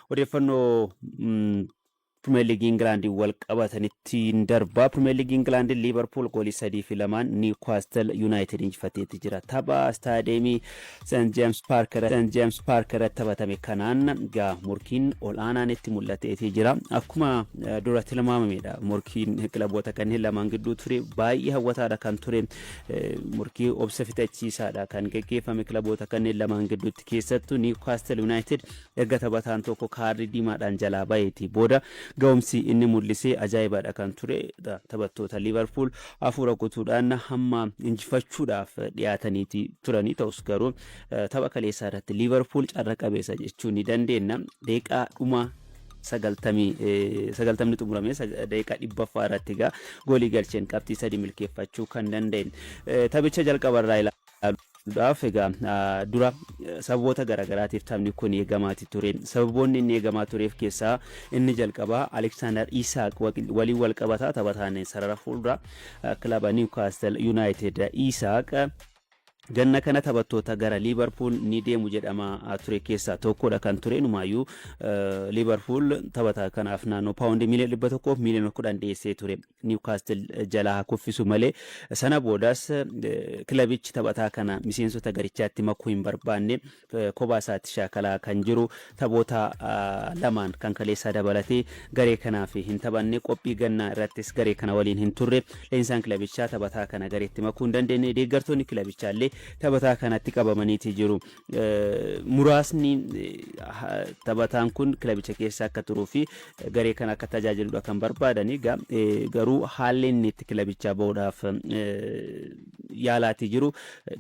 Odeeffannoo mm, Pirimeer Liigii Ingilaandiin wal qabatanitti hin darbaa. Pirimeer Liigii Ingilaandiin Liivarpuul goolii sadii fi lamaan Niwukaastil Yuunaayitid injifateetti jira. Tapha istaadeemii Seent Jeems Paark irratti Seent Jeems Paark irratti taphatame kanaan gaa morkiin ol'aanaan itti mul'ateetii jira. Akkuma eh, dura tilmaamamedha. Morkiin kilaboota kanneen lamaan gidduu ture baay'ee hawwataadha kan ture. Eh, Morkii obsa fixachiisaadha kan geggeeffame kilaboota kanneen lamaan gidduutti keessattuu Niwukaastil Yuunaayitid Erga taphataan tokko kaardii diimaadhaan jalaa baheeti booda ga'umsi inni mul'ise ajaa'ibadha kan ture dha. Taphattoota Liivarpuul hafuura guutuudhaan hamma injifachuudhaaf dhiyaataniiti turanii ta'us garuu tapha kaleessaa irratti Liivarpuul carra qabeessa jechuu ni dandeenya. Deeqaa dhuma sagaltamii eh, sagaltamni xumuramee sag- daqiiqaa dhibbaffaa irratti egaa goolii galcheen qabxii sadii milkeeffachuu kan danda'e Eh, taphicha jalqaba irraa ilaa ilaaluudhaaf egaa dura sababoota garaagaraatiif taphni kun eegamaati ture. Sababoonni inni eegamaa tureef keessaa inni jalqabaa Aleksaandar Iisaaq waliin wal qabata taphataan sarara fuuldura kilaba Niwkaastil Yuunaayitid Iisaaq ganna kana taphattoota gara Liivarpuul ni deemu jedhamaa ture keessaa tokkodha kan ture numaayyuu Liivarpuul taphataa kanaaf naannoo paawundii miiliyoona dhibba tokkoof miiliyoona kudhan dhiyeessee ture. Niwkaastil jalaa haa kuffisu malee sana boodas kilabichi taphataa kana miseensota garichaatti makuu hin barbaanne kophaa isaatti shaakalaa kan jiru taphoota lamaan kan kaleessaa dabalatee garee kanaaf hin taphanne qophii gannaa irrattis garee kana waliin hin turre leenjisaan kilabichaa taphataa kana gareetti makuu hin dandeenye deeggartoonni kilabichaallee taphataa kanatti qabamaniiti jiru muraasni taphataan kun kilabicha keessa akka turuu fi garee kana akka tajaajiludha kan barbaadani garuu haalli inni itti kilabichaa bahuudhaaf yaalaatii jiru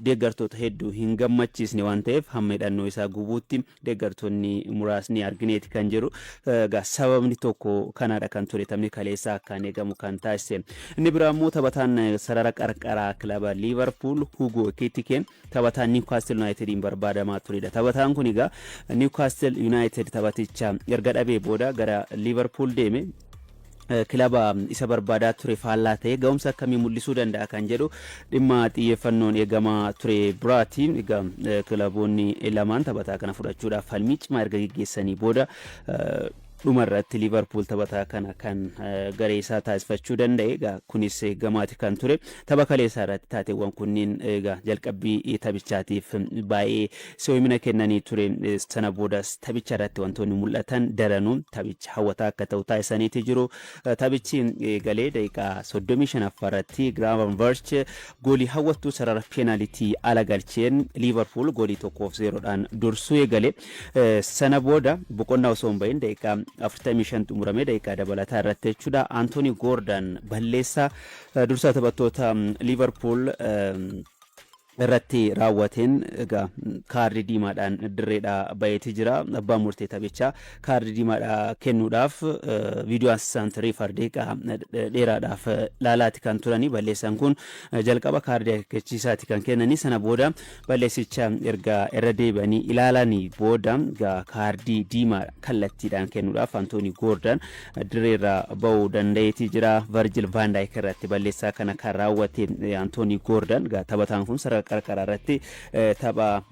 deeggartoota hedduu hin gammachiisne waan ta'eef hamma hidhannoo isaa gubuutti deeggartoonni muraasni argineeti kan jiru egaa sababni tokko kanaadha kan ture taphni kaleessaa akkaan eegamu kan taasise inni biraa immoo taphataan sarara qarqaraa kilaba liivarpuul hugoo kitikeen Taphataan Niwkaastil Yunaayitediin barbaadamaa turedha. Taphataan kun egaa Niwkaastil Yunaayitid taphaticha erga dhabee booda gara Liivarpuul deeme. kilaba isa barbaadaa ture faallaa ta'ee ga'umsa akkamii mul'isuu danda'a kan jedhu dhimma xiyyeeffannoon eegamaa ture biraati. Egaa kilaboonni lamaan taphataa kana fudhachuudhaaf falmii cimaa erga geggeessanii booda Dhuma irratti Liivarpuul taphataa kana kan garee isaa taasifachuu danda'e egaa kunis gamaati kan ture. Tapha kaleessaa irratti taateewwan kunniin egaa jalqabbii taphichaatiif baay'ee si'oomina kennanii ture. Sana boodas taphicha irratti wantoonni mul'atan daranuu taphicha hawwataa akka ta'u taasisaniiti jiru. Taphichi eegalee daqiiqaa 35ffaa irratti Giraavan Varch Goolii hawwattuu sarara peenaalitii ala galcheen Liivarpuul goolii 1 fi 0 dhaan dursuu eegale. Sana booda boqonnaa osoo hin bahin daqiiqaa 45 xumuramee daqiiqaa dabalataa irratti jechuudha Antoonii Goordaan balleessaa dursaa taphattoota Liivarpuul irratti raawwateen egaa kaardii diimaadhaan dirreedhaa baheeti jira. Abbaan murtee taphichaa kaardi diimaadhaa kennuudhaaf viidiyoo Ansisaant Riifar deeqaa dheeraadhaaf laalaati kan turanii balleessaan kun jalqaba kaardii akeekkachiisaati kan kennanii sana booda balleessicha erga irra deebi'anii ilaalanii booda kaardii diimaa kallattiidhaan kennuudhaaf Antoonii Goordan direerraa ba'uu danda'eetii jira Varjil Vaandaayik irratti balleessaa kana kan raawwate Antoonii Goordan taphataan kun sarara qarqaraa irratti Tapha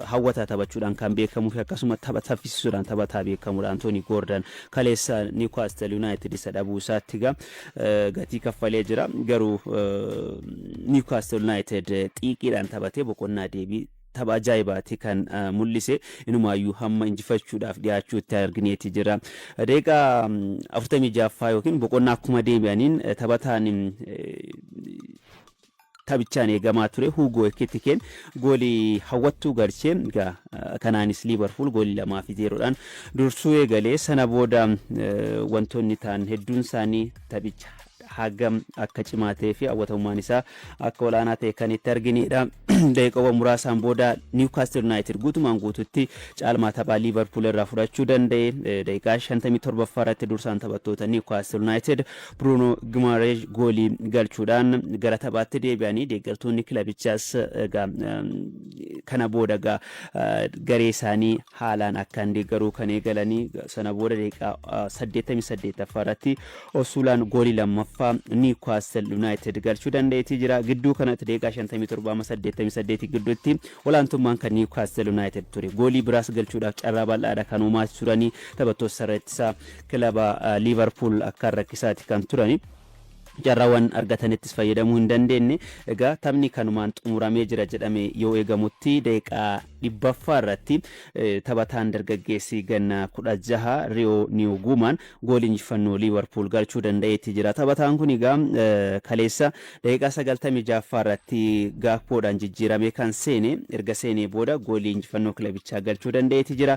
hawwataa taphachuudhaan kan beekamuu fi akkasuma tapha saffisiisuudhaan taphataa beekamuudha Antoonii Goordan. Kaleessa Niwkaastil Yuunaayitid isa dhabuu isaatti egaa gatii kaffalee jira. Garuu Niwkaastil Yuunaayitid xiiqiidhaan taphatee boqonnaa deebii tapha ajaa'ibaati kan mul'ise inumaayyuu hamma injifachuudhaaf dhiyaachuutti argineeti jira. Deeqaa 46ffaa yookiin boqonnaa akkuma deebi'aniin taphataan Taphichaan eegamaa ture Huugoo Ekitikeen goolii hawwattuu galche. Egaa kanaanis Liivarpuul goolii lamaa fi zeeroodhaan dursuu eegale. Sana booda wantoonni ta'an hedduun isaanii taphicha hagam akka cimaa ta'ee fi hawwatamummaan isaa akka olaanaa ta'e kan itti arginedha. Daqiiqawwan muraasaan booda Niwkaastil Yuunaayitid guutumaan guututti caalmaa taphaa Liivarpuul irraa fudhachuu danda'e. Daqiiqaa 57ffaa irratti dursaan taphattoota Niwkaastil Yuunaayitid Biruunoo Gimaareesh goolii galchuudhaan gara taphaatti deebi'anii deeggartoonni kilabichaas egaa kana booda egaa garee isaanii haalaan akkaan deeggaruu kan eegalanii sana booda daqiiqaa 88ffaa irratti Osuulaan goolii lammaffaa Niwkaastil Yunaayitid galchuu danda'eetii jira. Gidduu kanatti daqiiqaa 57-88 gidduutti olaantummaan kan Niwkaastil Yunaayitid ture. Goolii biraas galchuudhaaf carraa bal'aadha kan uumaa turanii taphattoota sarara ittisaa Kilaba Liivarpuul akkaan rakkisaati kan turani. Carraawwan argatanittis fayyadamuu hin dandeenne. Egaa taphni kanumaan xumuramee jira jedhamee yoo eegamutti daqiiqaa dhibbaffaa irratti taphataan dargaggeessi ganna kudha jaha Riyoo Niyuguumaan goolii injifannoo Liivarpuul galchuu danda'eetti jira. Taphataan kun egaa kaleessa daqiiqaa sagaltamii jahaffaa irratti Gaakpoodhaan jijjiiramee kan seene erga seenee booda goolii injifannoo kilabichaa galchuu danda'eetti jira.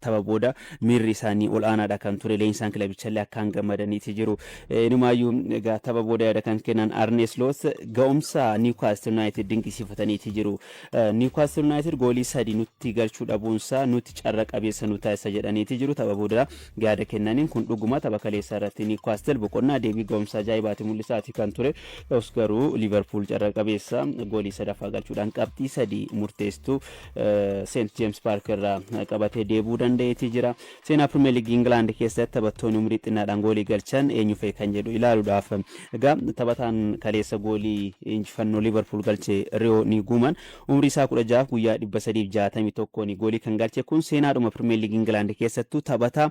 Tapha booda miirri isaanii ol aanaadha kan ture, leenjisaan kilabichallee akkaan gammadaniiti jiru. Inumaayyuu egaa tapha booda yaada kan kennan Arnee Sloot ga'umsa Niwkaastil Yunaayitid dinqisiifataniiti jiru. Niwkaastil Yunaayitid goolii sadi nutti galchuu dhabuunsaa nutti carra qabeessa nu taasisa jedhaniiti jiru. Tapha booda yaada kennaniin kun dhuguma tapha kaleessaa irratti Niwkaastil boqonnaa deebii ga'umsa ajaa'ibaati mul'isaati kan ture. Ta'us garuu Liiverpuul carra qabeessa goolii sadaffaa galchuudhaan qabxii sadi murteessituu Seent Jeems Paark irraa qabatee deebi'uu danda'eetii jira. Seenaa Pirimeer Liigii Ingilaand keessatti taphattoonni umurii xinnaadhaan goolii galchan eenyu fa'i kan jedhu ilaaluudhaaf. Egaa taphataan kaleessa goolii injifannoo Liivarpuul galche Riyoo Niiguuman umrii isaa kudha ja'aaf guyyaa dhibba sadiif jaatamii tokkoon goolii kan galche kun seenaadhuma Pirimeer Liigii Ingilaand keessattuu taphataa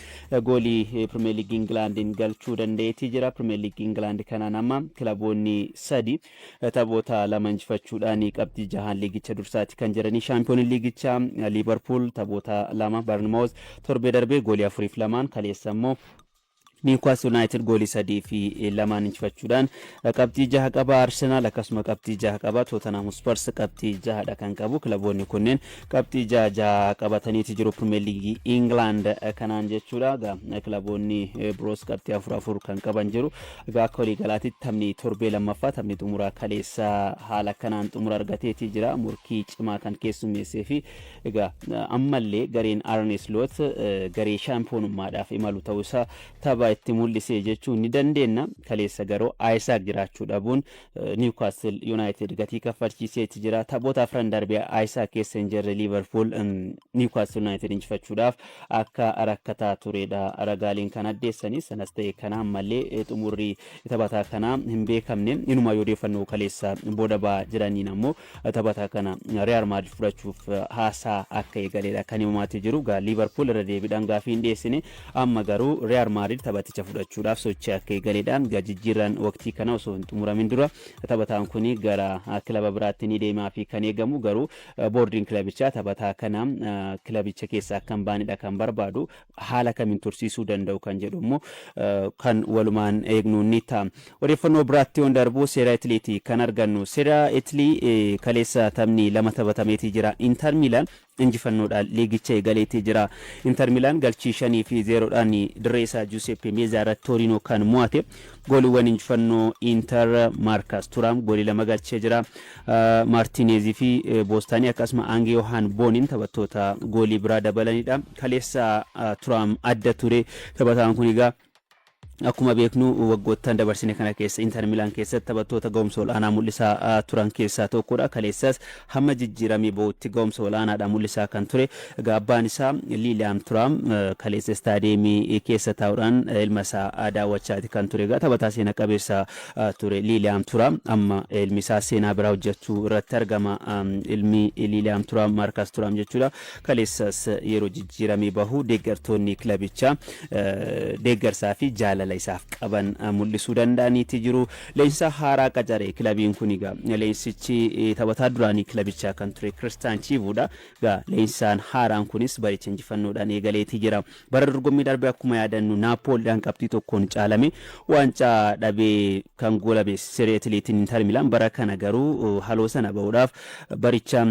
Goolii Pirimeer Liigii Ingilaandiin galchuu danda'eetii jira. Pirimeer Liigii Ingilaandi kanaan amma kilaboonni sadi taphoota lama injifachuudhaan qabxii jahaan liigicha dursaati kan jiranii. Shaampiyooniin liigichaa Liivarpuul taphoota lama Barnimoos torbee darbee goolii afuriif lamaan kaleessa immoo Niwukaas Yuunaayitid goolii sadii fi lamaan injifachuudhaan qabxii jaha qaba. Arsenaal akkasuma qabxii jaha qaba. Tootanhaam Huspars qabxii jahadha kan qabu. Kilaboonni kunneen Qabxii ja'a ja'a qabataniiti jiru Pirimeer Liigii Ingilaand kanaan jechuudha. Egaa kilaboonni biroos qabxii afur afur kan qaban jiru. Egaa akka waliigalaatti taphni torbee lammaffaa taphni xumuraa kaleessa haala kanaan xumura argateeti jira. Morkii cimaa kan keessummeessee fi egaa ammallee gareen Arne Slot garee shaampiyoonummaadhaaf imalu ta'uu isaa tapha itti mul'ise jechuun ni dandeenya. Kaleessa garuu Ayisaak jiraachuu dhabuun Niwkaastil Yuunaayitid gatii kaffalchiiseeti jira. Taphoota afran darbe Ayisaa keessa hin jirre Liivarpuul Niwkaastil Yuunaayitid injifachuudhaaf akka rakkataa turedha. Ragaaleen kan addeessanii sanas ta'e kana ammallee xumurri taphataa kanaa hin beekamne. Inumaa yoo odeeffannoo kaleessa booda ba'aa jiraniin ammoo Taphataa kana Riyaal Maadrid fudhachuuf haasaa akka eegaleedha kan himamaati jiru. Egaa Liivarpuul irra deebiidhaan gaafii hin dhiyeessine. Amma garuu Riyaal Maadrid taphaticha fudhachuudhaaf sochii akka eegaleedha. Egaa jijjiirraan waqtii kana osoo hin xumuramin dura taphataan kun gara kilaba biraatti ni deemaa fi kan eegamu garuu boordiin kilabichaa taphataa kana kilabicha keessa akka hin baanedha kan barbaadu. haala kamiin tursiisuu danda'u kan jedhu immoo kan walumaan eegnu ni ta'a. Odeeffannoo biraatti yoon darbu seera Itiliiti kan argannu. Seera Itilii kaleessa taphni lama taphatameetii jira. Intar Miilaan injifannoodhaan liigicha eegaleetii jira. Intar Miilaan galchii shanii fi zeeroodhaan dirree isaa Juuseppe Meezaa irratti Tooriinoo kan mo'ate. Gooliwwan injifannoo Inter, Maarkas Turaam goolii lama galchee jira. Maartiineezii fi Boostaanii akkasuma Aang Yohaan Booniin taphattoota goolii biraa dabalanidha. Kaleessa Turaam adda ture. Taphataan kun egaa akkuma beeknu waggoottan dabarsine kana keessa Inter Milaan keessatti taphattoota ga'umsa ol'aanaa mul'isaa turan keessaa tokkodha. Kaleessas Hamma jijjiiramii ba'utti ga'umsa ol'aanaadhaan mul'isaa kan ture abbaan isaa Liiliyaam Turaam kaleessa istaadiyeemii keessa taa'uudhaan ilma isaa daawwachaati kan ture. Egaa taphataa seena qabeessa ture Liiliyaam Turaam amma ilmi isaa seenaa biraa hojjechuu irratti argama. Ilmi Liiliyaam Turaam Maarkas Turaam jechuudha. Kaleessas yeroo jijjiiramii bahu deeggartoonni kilabichaa deeggarsaa fi jaalala isaaf qaban mul'isuu danda'aniiti jiru. Leenjisaa haaraa qacare kilabiin kun egaa. Leenjisichi taphataa duraanii kilabichaa kan ture Kiristaan Chiivuudha. Egaa leenjisaan haaraan kunis baricha injifannoodhaan eegaleetii jira. Bara dorgommii darbe akkuma yaadannu Naappooliidhaan qabxii tokkoon caalame waancaa dhabee kan goolame Serie Itiliitiin Inter Milaan bara kana garuu haloo sana bahuudhaaf Baricha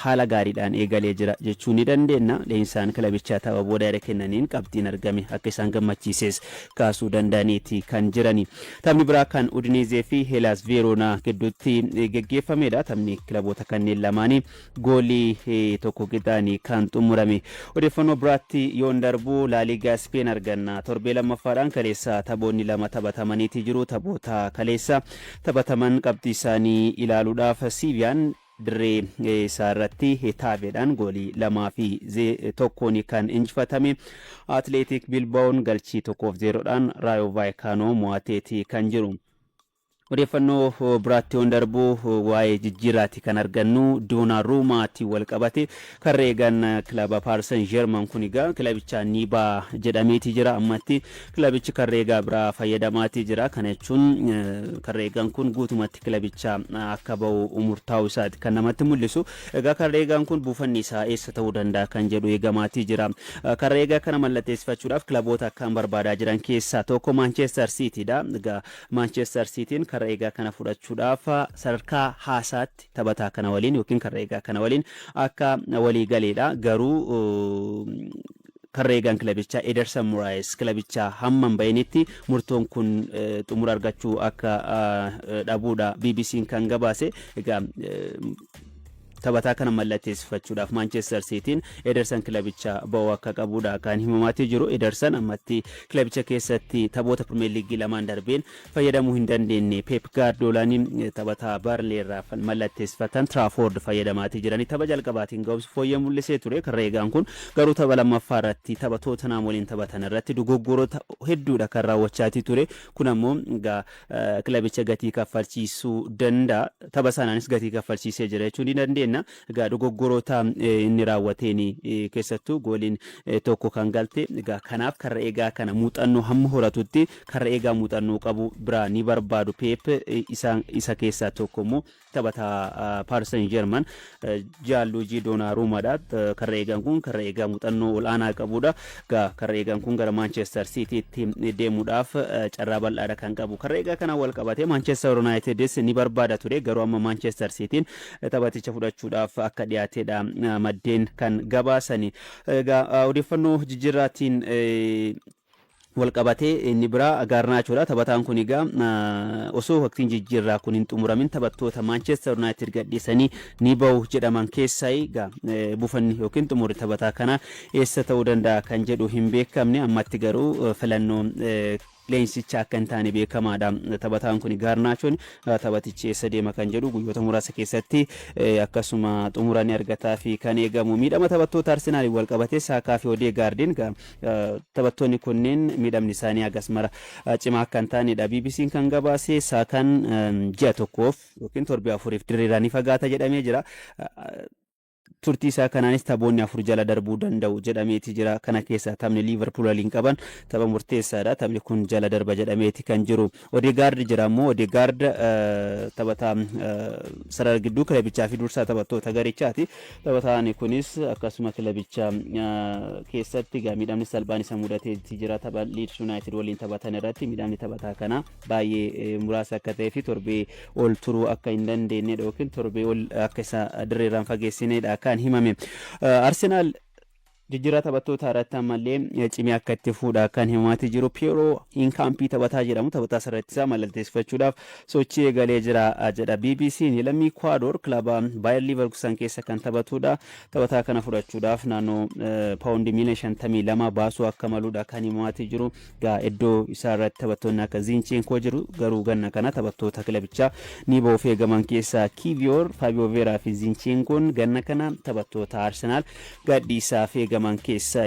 haala gaariidhaan eegalee jira jechuu ni dandeenna. Leenjisaan kilabichaa tapha booda yaada kennaniin qabxiin argame akka isaan gammachiises kaasuu danda'aniiti kan jirani. Taphni biraa kan Udineezee fi Heelaas Veeroonaa gidduutti geggeeffamedha. Taphni kilaboota kanneen lamaanii goolii tokko qixaan kan xumurame. Odeeffannoo biraatti yoon darbu Laaliigaa Ispeen arganna. Torbee lammaffaadhaan kaleessa taphoonni lama taphatamaniiti jiru. Taphoota kaleessa taphataman qabxiisaanii ilaaluudhaaf Siiviyaan dirree isaarratti Hetaaveedhaan goolii lamaa fi tokkoon kan injifatame Atileetik Bilbaa'oon galchii tokkoof zeeroodhaan Raayoo Vaayikaanoo mo'ateeti kan jiru. Odeeffannoo biraatti yoon darbu waa'ee jijjiirraati kan argannu Doonaa Ruumaatiin wal qabate Karreegan kilaba Paris Saint Germain kun egaa kilabichaan ni ba'a jedhameeti jira. Ammatti kilabichi Karreegaa biraa fayyadamaati jira. Kana jechuun Karreegan kun guutumatti kilabicha akka ba'u murtaa'u isaati kan namatti mul'isu. Egaa Karreegaan kun buufanni isaa eessa ta'uu danda'a kan jedhu eegamaati jira. Karreegaa kana mallatteessifachuudhaaf kilaboota akkaan barbaadaa jiran keessaa tokko Maanchestar Siitiidha. Egaa Maanchestar Siitiin Karreegaa kana fudhachuudhaaf sadarkaa haasaatti taphataa kana waliin yookiin karra eegaa kana waliin akka walii galeedha. Garuu karra eegaan kilabichaa Ederson Muraayis kilabichaa hamma hin bahinitti murtoon kun xumura argachuu akka dhabuudha BBC'n kan gabaase. Egaa taphataa kana mallatteessifachuudhaaf Maanchestar Siitiin Ederson kilabicha ba'uu akka qabuudha kan himamaatii jiru. Ederson ammatti kilabicha keessatti taphoota Pirimeer Liigii lamaan darbeen fayyadamuu hin dandeenne. Peep Gaardiolaan taphataa Barnley irraa mallatteessifatan Trafford fayyadamaatii jirani. Tapha jalqabaatiin ga'umsi fooyyee mul'isee ture Karreegaan kun garuu tapha lammaffaa irratti tapha Tootanhaam waliin taphatan irratti dogoggorota hedduudha kan raawwachaatii ture. Kun ammoo egaa kilabicha gatii kaffalchiisuu danda'a. Tapha sanaanis gatii kaffalchiisee jira jechuun ni dandeenya. Egaa dogoggoroota inni raawwateen keessattuu gooliin tokko kan galte egaa kanaaf karra eegaa kana muuxannoo hamma horatutti karra eegaa muuxannoo qabu biraa ni barbaadu Peep isa, isa keessaa tokko immoo taphataa Paarsan Jeerman Jaalluujii Doonaaruumaadha. Karra eegaan kun karra eegaa muuxannoo ol'aanaa qabudha. Egaa karra eegaan kun gara Maanchestar Siitiitti deemuudhaaf carraa bal'aadha kan qabu. Karra eegaa kanaan wal qabatee Maanchestar Yunaayitidis ni barbaada ture garuu amma Maanchestar Siitiin taphaticha fudhachuudhaaf akka dhiyaateedha maddeen kan gabaasani. Egaa odeeffannoo jijjiirraatiin walqabatee inni biraa Gaarnaachoodha. Taphataan kun egaa osoo waqtiin jijjiirraa kun hin xumuramin taphattoota Maanchester Yuunaayitid gadhiisanii ni bahu jedhaman keessaa egaa buufanni yookiin xumurri taphataa kanaa eessa ta'uu danda'a kan jedhu hin beekamne ammatti garuu filannoo leenjsicha akka hin taane beekamaadha. Taphataan kuni Gaarnaachoon taphatichi eessa deema kan jedhu guyyoota muraasa keessatti akkasuma xumura ni argataafi kan eegamu. Miidhama taphattoota Arsenaaliin wal qabatee Saakaa fi Odeegaardiin taphattoonni kunneen miidhamni isaanii hagas mara cimaa akka hin taanedha. BBC'n kan gabaase Saakaan ji'a tokkoof yookiin torbee afuriif dirreerraa ni fagaata jedhamee jira. Turtii isaa kanaanis taphoonni afur jala darbuu danda'u jedhameeti jira. Kana keessaa taphni Liivarpuul waliin qaban tapha murteessaadha. Taphni kun jala darba jedhameeti kan jiru. Odeegaard jira ammoo Odeegaard taphataa sarara gidduu kilabichaa fi dursaa taphattoota garichaati. Taphataan kunis akkasuma kilabicha keessatti miidhamni salphaan isa mudateeti jira. Tapha Liids Yuunaayitid waliin taphatan irratti miidhamni taphataa kanaa baay'ee muraasa akka ta'ee fi torbee ol turuu akka hin dandeenyedha yookiin torbee ol akka isa dirreerraan fageessinedha kan himame. Arsenaal jijjiirraa taphattootaa irratti ammallee cimee akka itti fuudha kan himaati jiru Piyeeroo Inkaampii taphataa jedhamu taphataa sarartisaa malalteessifachuudhaaf sochii eegalee jira jedha BBC'n lammii Kwaadoor kilaba Baayar Liivarkusan keessa kan taphatudha taphataa kana fudhachuudhaaf naannoo paawundi miiliyoona shantamii lama baasuu akka maludha kan himaati jiru Egaa iddoo isaa irratti taphattoonni akka Ziincheenkoo jiru garuu ganna kana taphattoota kilabichaa Niiboo of eegaman keessaa Kiiviyoor, Faabiyoo Veeraa fi Ziincheenkoon ganna kana taphattoota Arsenaal gadhiisaaf eegaman keessaa